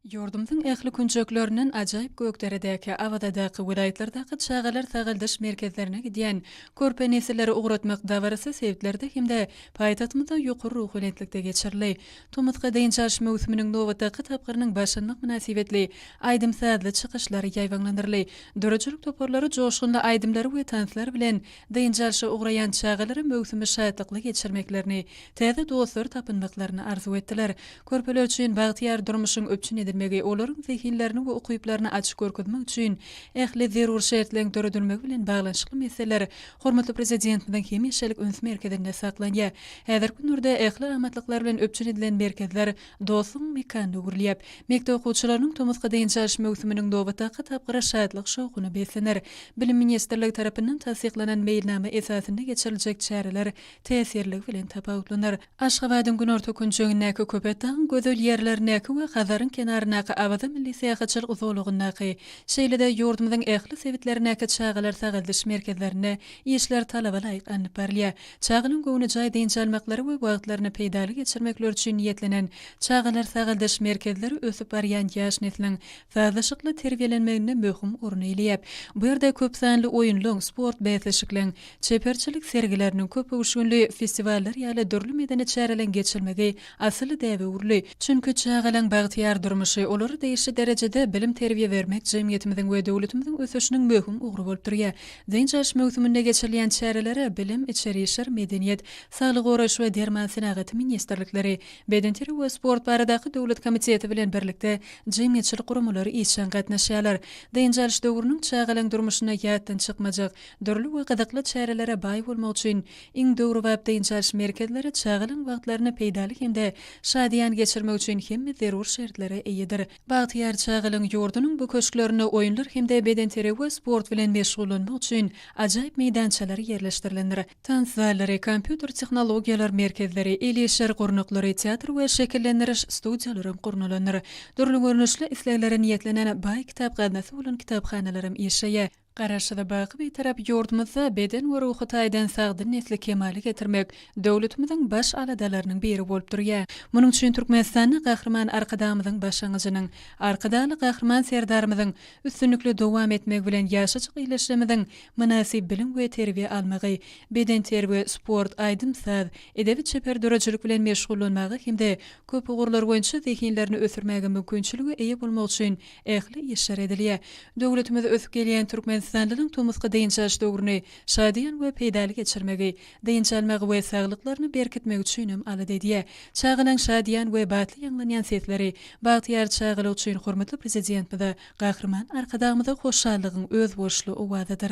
Ýurdumyzyň ähli künjeklerinden ajaýyp Gökderedäki, Awazadaky, welaýatlardaky çagalar sagaldyş merkezlerine gidýän körpe nesilleri ugratmak dabarasy sebitlerde hem-de paýtagtymyzda ýokary ruhubelentlikde geçirildi. Tomusky dynç alyş möwsüminiň nobatdaky tapgyrynyň başlanmagy mynasybetli aýdym-sazly çykyşlar ýaýbaňlandyryldy. Döredijilik toparlary joşgunly aýdymlary we tanslar bilen Dynç alşa ugraýan çagalara möwsümi şatlykly geçirmeklerini, täze dostlar tapynmaklaryny arzuw etdiler. Körpeler üçin bagtyýar durmuşyň üpjün edilmegi, olaryň zehinlerini we ukyplaryny açyp görkezmek üçin ähli zerur şertleriň döredilmegi bilen baglanyşykly meseleler hormatly Prezidentimiziň hemişelik üns merkezinde saklanýar. Häzirki günlerde ähli amatlyklar bilen üpjün edilen merkezler Dostuň mekanyna öwrülýär. Mekdep okuwçylarynyň tomusky dynç alyş möwsüminiň nobatdaky tapgyry şatlyk-şowhuna beslener. Bilim ministrligi tarapyndan tassyklanan meýilnama esasynda geçiriljek çäreler täsirligi bilen tapawutlanar. Aşgabadyň günorta künjegindäki Köpetdagyň gözel ýerlerindäki we Hazaryň kenaryndaky Awaza milli syýahatçylyk zolagyndaky, şeýle-de ýurdumyzyň ähli sebitlerindäki çagalar sagaldyş merkezlerinde işler talaba laýyk alnyp barylýar. Çaganyň göwnejaý dynç almaklary we wagtlaryny peýdaly geçirmekleri üçin niýetlenen çagalar sagaldyş merkezleri ösüp barýan ýaş nesliň sazlaşykly terbiýelenmeginde möhüm orun eýleýär. Bu ýerde köp sanly oýunlaryň, sport bäsleşikleň, çeperçilik sergileriniň, köpöwüşginli festiwallar ýaly dürli medeni çäreleň geçirilmegi asyl däbe öwrüldi. Çünki çagalaň bagtyýar durmuşy, olara degişli derejede bilim-terbiýe bermek jemgyýetimiziň we döwletimiziň ösüşiniň möhüm ugry bolup durýar. Dynç alyş möwsüminde geçirilýän çärelere bilim, içeri işler, medeniýet, saglygy goraýyş we derman senagaty ministrlikleri, Bedenterbiýe we sport baradaky döwlet komiteti bilen birlikde jemgyýetçilik guramalary işjeň gatnaşýarlar. Dynç alyş döwrüniň çagalaň durmuşynda ýatdan çykmajak, dürli we gyzykly çärelere baý bolmagy üçin iň döwrebap dynç alyş merkezleri çagalaň wagtlaryny peýdaly hem-de şadyýan geçirmek üçin hemme zerur şertlere eýedir. Bagtyýar çagalygyň ýurdunyň bu köşklerinde oýunlar hem-de bedenterbiýe we sport bilen meşgullanmak üçin ajaýyp meýdançalar ýerleşdirilendir. Tans zallary, kompýuter tehnologiýalar merkezleri, el işleri gurnaklary, teatr we şekillendiriş studiýalaram gurnalandyr. Dürli görnüşli isleglere niýetlenen baý kitap gaznasy bolan kitaphanalaram işleýär. Garaşsyz, baky Bitarap ýurdumyzda beden we ruhy taýdan sagdyn nesli kemala getirmek döwletimiziň baş aladalarynyň biri bolup durýar. Munuň üçin Türkmenistanda Gahryman Arkadagymyzyň başlangyjynyň, Arkadagly Gahryman Serdarymyzyň üstünlikli dowam etmegi bilen ýaşajyk ildeşlerimiziň mynasyp bilim we terbiýe almagy, bedenterbiýe, sport, aýdym-saz, edebi-çeper döredijilik bilen meşgullanmaga hem-de köpugurlar boýunça zehinlerini ösdürmäge mümkinçilige eýe bolmagy üçin Ähli işler edilýär. Döwletimiz ösüp gelýän türkmenistanlylaryň tomusky dynç alyş döwrüni şadyýan we peýdaly geçirmegi, dynç almagy we saglyklaryny berkitmegi üçin hem alada edýär. Çagalaň şadyýan we batly ýaňlanýan sesleri, bagtyýar çagalyk üçin hormatly Prezidentmize, Gahryman Arkadagymyza hoşallygyň özboluşly owazydyr.